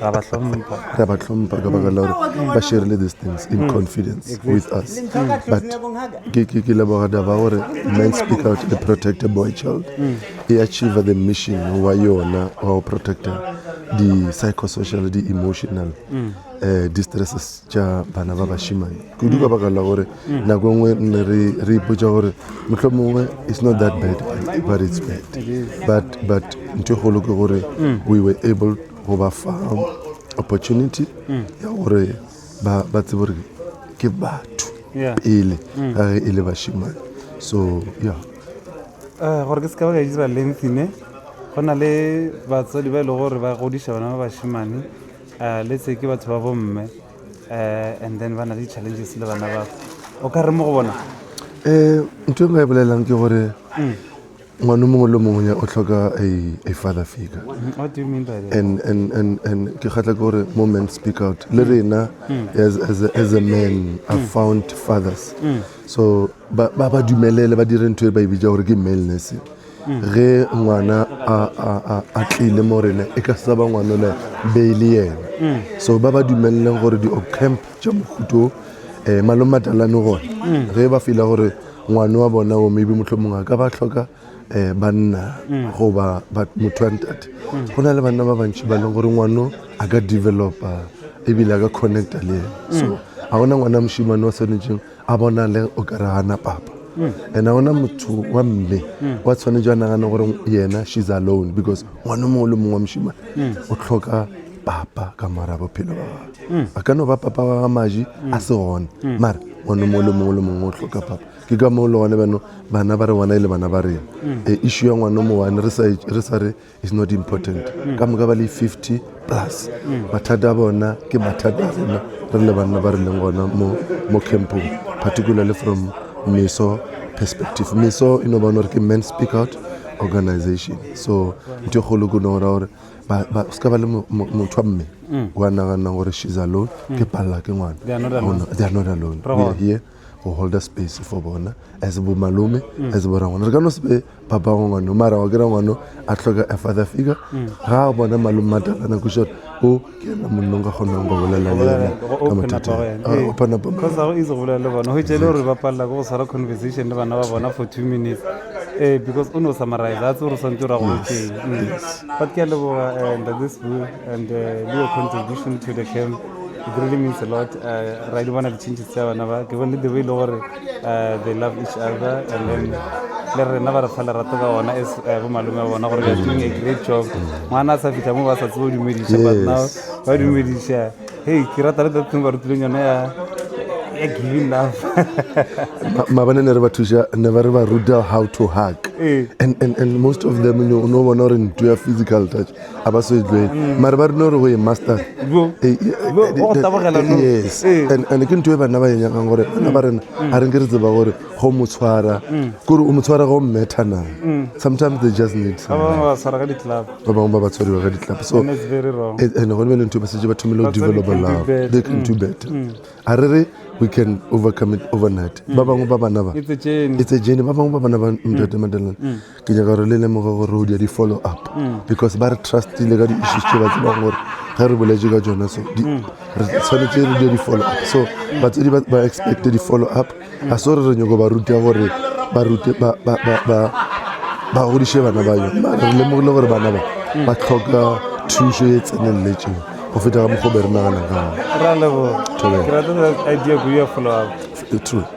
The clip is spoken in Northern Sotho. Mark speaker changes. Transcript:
Speaker 1: ra ba hlompha ra ba hlompha ka baka la gore ba sharile these things in mm. confidence with us but ke leboga daba gore men speak out the protect a boy child mm. e achieve the mission wa yona wa go protecta di-psychosocial di-emotional um mm. eh, distresses tša bana ba bašimane kudu ka baka la gore nako nngwe nne re re ipotsa gore motlho mongwe it's not that bad but it's bad but but ntho e golo ke gore mm. we were able go ba fa opportunity mm. ya gore ba ba tsebo gore ke batho pele mm. ga e le bashimane so ya eh, gore ke se ka ba ka e dira lengthy ne go na le batsadi ba e lego gore ba godiša bana ba bashimane um eh, le se ke batho ba bomme and then ba na le challenges le bana ba o ka re mo go bona um ntho e nka e bolelelang ke gore ngwane mongwe le mongwe o tlhoka a father figure and ke kgatla ke gore mo men speak out le rena as a man are found fathers so ba ba dumelele ba dire ntho e ba e bitsa gore ke male nursing Ge ngwana a, a, a, a tlile mo rena, e ka sa ba ngwanole be e le yena. So ba ba dumeleleng gore di-ocamp tša mohuto um malome matalane gona ge ba fila gore ngwane wa bona o maybe mohlho mongwe a ka ba hloka um banna goba motho wa ntate go na le banna ba bantši ba leng gore ngwano a ka developa ebile a ka connecta le ena so ga gona ngwana mošimane wa swanetšeng a bonale o ka re gana papa and a ona motho wa mme wa tshwanetše a nagane gore yena she's alone because ngwana o mongwe le mongwe wa mošima o tlhoka papa ka mora bophelo ba gagwe a ka no ba papa wa ga maji a se gone mara ngwana o mongwe le mongwe le mongwe o tlhoka papa ke ka moo le gone bano bana ba re ngwana e le bana ba rena e issue ya ngwana o mowani re sa re is not important mm. ka moka ba le 50 plus mm. mathata a bona ke mathata a rena re le banna ba re leng gona mo, mo campong particularly from meso perspective meso e no bona gore ke man speak out organization so ntho e kgolo ko nogora gore o se ka ba le motho wa mme mm. wa naganang gore she's alone ke palela ke ngwana they are not alone go holda space for bona as bo malome mm. as bo rangwana re ka no se be ba bangwe ngwano mara wa kry-a ngwano a tlhoka a father figure mm. ga a bona malome matalana ko short o ke ena monnong ka kgonang go bolela le ena ka mathataaopanapamaeore ba palela ko go tshwara conversation le bana ba bona for two minutes ee because o ne o summarize a tse gore swantse o ra go botseng mm. but ke a leboga eh, and this book and eh, your contribution to the camp It really means a lot. Uh, right, one of the changes tsa bana ba ke bone the way le gore uh, they love each other and then le rena ba re fa lerato ka ona as uh, bo malome ba bona gore they are doing a great job. Ngwana a sa fitlha mo ba sa tsebo dumedisha but now ba dumedisha. Hey, ke rata le that thing ba rutileng yona ya ya giving love. mabane ne re ba thuša ne ba re ba ruta how to hug Eh. and, and, and most of them you know, no bona gore nto ya physical touch a ba so e tlwele mare ba rile gore go ye master yes and ke ntho e banna ba e nyakang gore bana ba rena ga re nke re tseba gore go mo tshwara kore o mo tshwara go mmetha na sometimes they just need ba bangwe ba ba tshwariwa ka ditlapa so and gone be le ntho e ba setse ba thomile go develop love they can do better a re re we can overcome it overnight ba bangwe ba bana ba it's a journey ba bangwe ba bana ba mtate madelana ke nyaka gore le lemoge gore re o dia di-follow up mm. because ba re trustile ka di-issues tse ba tsebang gore ge re boletse ka tsone so mm. re tshwanetse re dia di-follow up so mm. batsedi ba expecte di-follow up ga se gore re nyoko ba ruta gore ba rute ba godiše bana ba yone mare re lemogile gore bana ba ba tlhoka thušo e tseneletseng go feta ka mokgwa be re nagana ka gone